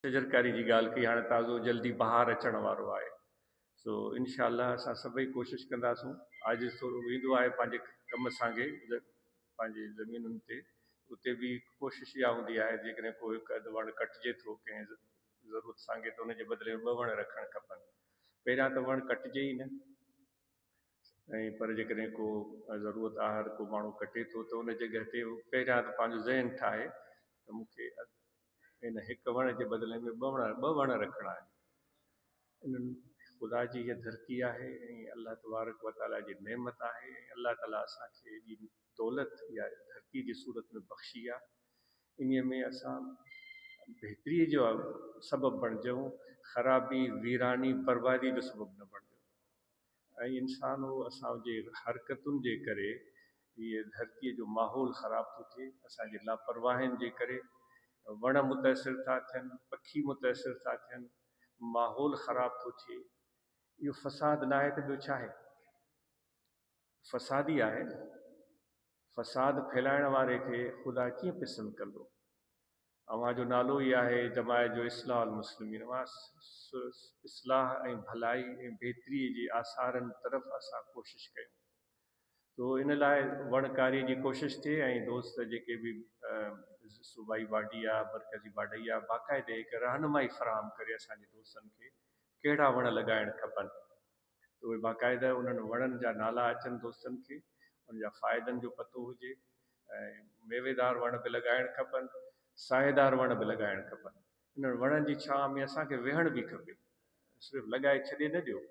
شجرڪاري جي ڳالهه ڪئي هاڻي تازو جلدي بهار اچڻ وارو آهي سو انشاء الله اسان سڀئي ڪوشش ڪنداسون عاجز ٿورو ويندو آهي پنهنجي ڪم سانگي پنهنجي زمينن تي اتي به ڪوشش اها هوندي آهي جيڪڏهن ڪو هڪ اڌ وڻ ڪٽجي ٿو ڪنهن ضرورت سانگي ته ان جي بدلي ۾ ٻه وڻ رکڻ کپن پهريان ته وڻ ڪٽجي ئي نه. ۽ پر جيڪڏهن ڪو ضرورت آهر ڪو ماڻهو ڪٽي ٿو ته ان جڳهه تي پهريان ته پنهنجو ذهن ٺاهي ته مون کي ان هڪ وڻ جي بدلي ۾ ٻه وڻ ٻه وڻ رکڻا آهن انهن خدا جي هيء ڌرتي آهي ۽ الله تبارڪ وتعاليٰ جي نعمت آهي ۽ الله تعاليٰ اسان کي ايڏي دولت يا ڌرتي جي صورت ۾ بخشي آهي انهيء ۾ اسان بهتريء جو سبب بڻجون خرابي ويراني بربادي جو سبب نه بڻجون. ۽ انسان هو اسان جي حرڪتن جي ڪري هي ڌرتي جو ماحول خراب ٿو ٿئي اسان جي لاپرواهين جي ڪري وڻ متاثر ٿا ٿين پکي متاثر ٿا ٿين ماحول خراب ٿو ٿئي اهو فساد ناهي ته ٻيو ڇا آهي فساد ئي آهي نه فساد ڦهلائڻ واري کي خدا ڪيئن پسند ڪندو اوهان جو نالو ئي آهي جماعت جو اصلاح المسلمين اوهان اصلاح ۽ ڀلائي ۽ بهتري جي آثارن طرف اسان ڪوشش ڪيون سو ان لاء وڻ ڪاري جي ڪوشش ٿئي ۽ دوست جيڪي به صوبائي باڊي آهي مرڪزي باڊي آهي باقاعده هڪ رهنمائي فراهم ڪري اسان جي دوستن کي ڪهڙا وڻ لڳائڻ کپن. ته اهي باقاعده انهن وڻن جا نالا اچن دوستن کي ان جا فائدن جو پتو هجي ۽ ميويدار وڻ به لڳائڻ کپن ساهيدار وڻ به لڳائڻ کپن انهن وڻن جي ڇانء ۾ اسان کي ويهڻ به کپي صرف لڳائي ڇڏي نه ڏيو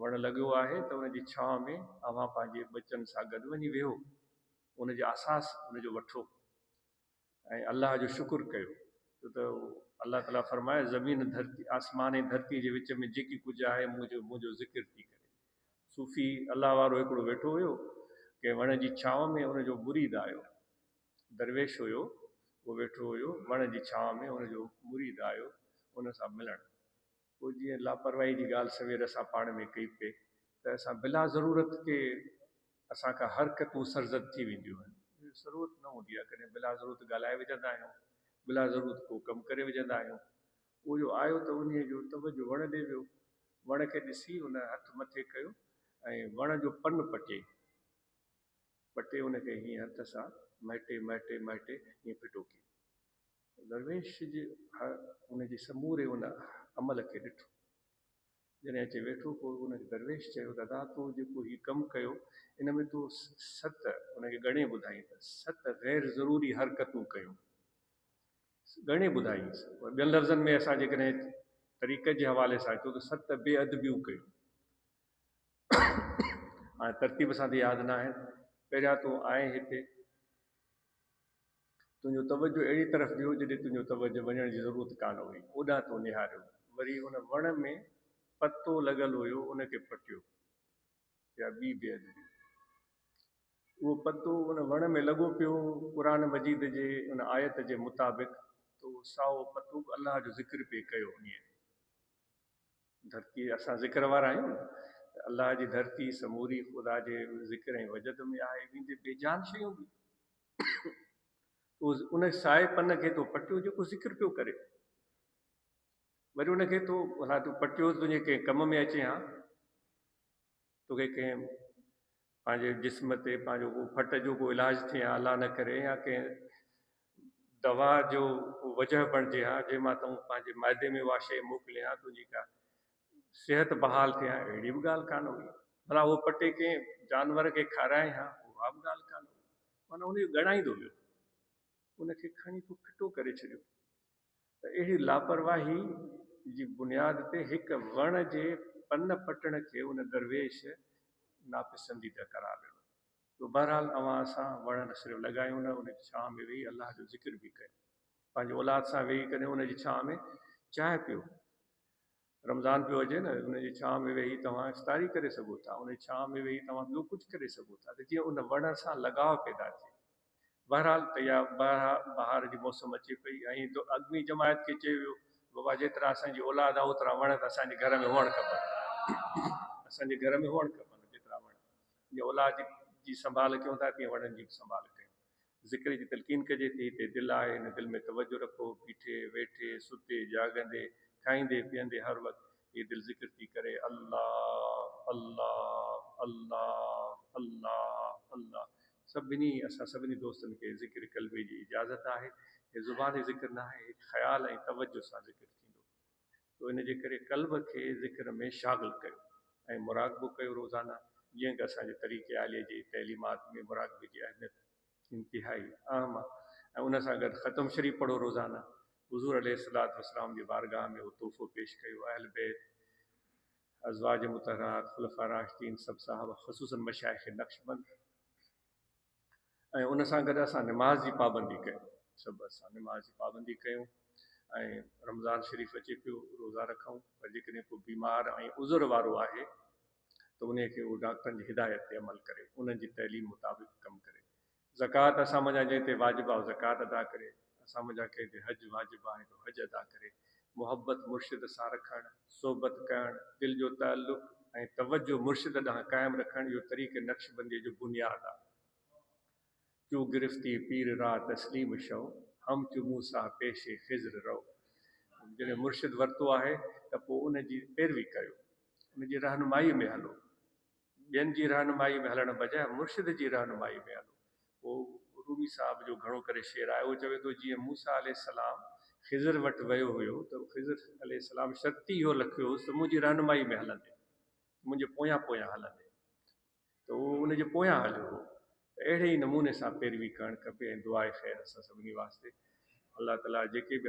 وڻ لڳيو آهي ته ان جي ڇانء ۾ اوهان پنهنجي ٻچن سان گڏ وڃي ويهو ان جي احساس ان جو وٺو. ۽ الله جو شڪر ڪيو ڇو ته الله تعالي فرمايو زمين ڌرتي آسمان ۽ ڌرتي جي وچ ۾ جيڪي ڪجهه آهي مون جو مون جو ذڪر ٿي ڪري صوفي الله وارو هڪڙو ويٺو هيو ڪنهن وڻ جي ڇانو ۾ ان جو مريد آيو درويش هيو اهو ويٺو هيو وڻ جي ڇانو ۾ ان جو مريد آيو ان سان ملڻ پوء جيئن لاپرواهي جي ڳالهه سوير اسان پاڻ ۾ ڪئي پئي ته اسان بلا ضرورت ڪي اسان کان حرڪتون سرزد ٿي وينديون آهن. ضرورت نه هوندي آهي ڪڏهن بلا ضرورت ڳالهائي وجهندا آهيون، بلا ضرورت ڪو ڪم ڪري وجهندا آهيون. اهو جو آيو ته انهيء جو توجهه وڻ ڏي ويو. وڻ کي ڏسي ان هٿ مٿي ڪيو ۽ وڻ جو پن پٽي پٽي ان کي هيئن هٿ سان مهٽي مهٽي مهٽي هيئن ڦٽو ڪيو. درويش جي ان جي سموري ان عمل کي ڏٺو. جڏهن اچي ويٺو پوء ان کي درويش چيو، دادا تو جيڪو هي ڪم ڪيو ان ۾ تو ست، ان کي ڳڻي ٻڌائين ته ست غير ضروري حرڪتون ڪيون. ڳڻي ٻڌائينس. پر ٻين لفظن ۾ اسان جيڪڏهن طريقت جي حوالي سان اچون ته ست بي ادبيون ڪيون. هاڻي ترتيب سان ته ياد ناهن. پهريان تون آئين هتي تنهنجو توجهه اهڙي طرف به هو جڏهن تنهنجو توجهه وڃڻ جي ضرورت ڪانه هئي، اوڏانهن تو نهاريو. وري ان وڻ ۾ پتو لڳل هيو، ان کي پٽيو. اها ٻي بي ادبي هئي. اهو پتو ان وڻ ۾ لڳو پيو هو. قرآن مجيد جي ان آيت جي مطابق ته اهو سائو پتو به الله جو ذڪر پئي ڪيو. انهيء. ڌرتي، اسان ذڪر وارا آهيون ته الله جي ڌرتي سموري خدا جي ذڪر ۽ وجد ۾ آهي، ويندي بي جان شيون به تو ان سائي پن کي تو پٽيو جيڪو ذڪر پيو ڪري، وري ان کي تو ڀلا تو پٽيو تنهنجي ڪنهن ڪم ۾ اچي ها، توکي ڪنهن پنهنجي جسم تي پنهنجو ڪو ڦٽ جو ڪو علاج ٿئي ها الله نه ڪري يا ڪنهن دوا جو ڪو وجهه بڻجي ها جنهن مان تون پنهنجي معدي ۾ اها شيء موڪلين ها تنهنجي ڪا صحت بحال ٿئي ها اهڙي به ڳالهه ڪانه هئي ڀلا اهو پٽي ڪنهن جانور کي کارائين ها اها به ڳالهه ڪانه هئي معنيٰ ان کي ڳڻائيندو ويو ان کي کڻي تو ڦٽو ڪري ڇڏيو. ته اهڙي لاپرواهي جي بنياد تي هڪ وڻ جي پن پٽڻ کي ان درويش ناپسنديده قرار ڏنو جو بهرحال اوهان اسان وڻ نه صرف لڳايون نه ان جي ڇانء ۾ ويهي الله جو ذڪر به ڪيو پنهنجي اولاد سان ويهي ڪڏهن ان جي ڇانء ۾ چانهه پيو رمضان پيو اچي نه ان جي ڇانء ۾ ويهي توهان استاري ڪري سگهو ٿا ان جي ڇانء ۾ ويهي توهان ٻيو ڪجهه ڪري سگهو ٿا ته جيئن ان وڻ سان لڳاء پيدا ٿئي بهرحال تيار بهار جي موسم اچي پئي ۽ دو اڳوڻي جماعت کي چيو ويو بابا جيترا اسان جي اولاد آهي اوترا وڻ ته اسان جي گهر ۾ هئڻ کپن اسان جي گهر ۾ هئڻ کپن جيترا وڻ جي اولاد جي سنڀال ڪيون ٿا تيئن وڻن جي به سنڀال ڪيون ذڪر جي تلقين ڪجي ٿي، تي دل آهي، هن دل ۾ توجه رکو، بيٺي، ويٺي، ستي، جاڳندي، کائيندي، پيئندي هر وقت هي دل ذڪر ٿي ڪري، الله الله الله الله الله سڀني اسان سڀني دوستن کي ذڪر قلبي جي اجازت آهي، هي زباني ذڪر ناهي، هڪ خيال ۽ توجه سان ذڪر ٿيندو. تو ان جي ڪري قلب کي ذڪر ۾ شاغل ڪيو ۽ مراقبو ڪيو روزانه جيئن ڪه اسان جي طريقي عاليه جي تعليمات ۾ مراقبي جي اهميت انتهائي اهم آ ۽ ان سان گڏ ختم شريف پڙهو روزانه حضور عليه الصلوة والسلام جي بارگاهه ۾ اهو تحفو پيش ڪيو اهل بيت، ازواج مطهرات، خلفاء راشدين، سڀ صحابه خصوصاً مشائخ نقشبند. ۽ ان سان گڏ اسان نماز جي پابندي ڪيون سڀ اسان نماز جي پابندي ڪيون ۽ رمضان شريف اچي پيو روزا رکون پر جيڪڏهن ڪو بيمار ۽ عذر وارو آهي ته ان کي هو ڊاڪٽرن جي هدايت تي عمل ڪري انهن جي تعليم مطابق ڪم ڪري زڪوات اسان منجهان جنهن تي واجب آهي زڪوات ادا ڪري اسان منجهان ڪنهن تي حج واجب آهي ته حج ادا ڪري. محبت مرشد سان رکڻ، صحبت ڪرڻ، دل جو تعلق ۽ توجه مرشد ڏانهن قائم رکڻ اهو طريق نقشبنديء جو بنياد آهي. چون گرفتي پير را تسليم شو، هم چون موسيٰ پيش خضر رو. جڏهن مرشد ورتو آهي ته پوء ان جي پيروي ڪريو، ان جي رهنمائيء ۾ هلو. ٻين جي رهنمائي ۾ هلڻ بجاء مرشد جي رهنمائي ۾ هلو. پوء رومي صاحب جو گهڻو ڪري شعر آهي. هو چوي ٿو جيئن موسيٰ عليه السلام خضر وٽ ويو هيو ته خضر عليه السلام شرط ئي اهو لکيو هوس ته منهنجي رهنمائي ۾ هلندين، منهنجي پويان پويان هلندين ته اهو ان جي پويان هليو هو ته اهڙي ئي نموني سان پيروي ڪرڻ کپي ۽ دعاء خير اسان سڀني واسطي. الله تعاليٰ جيڪي به.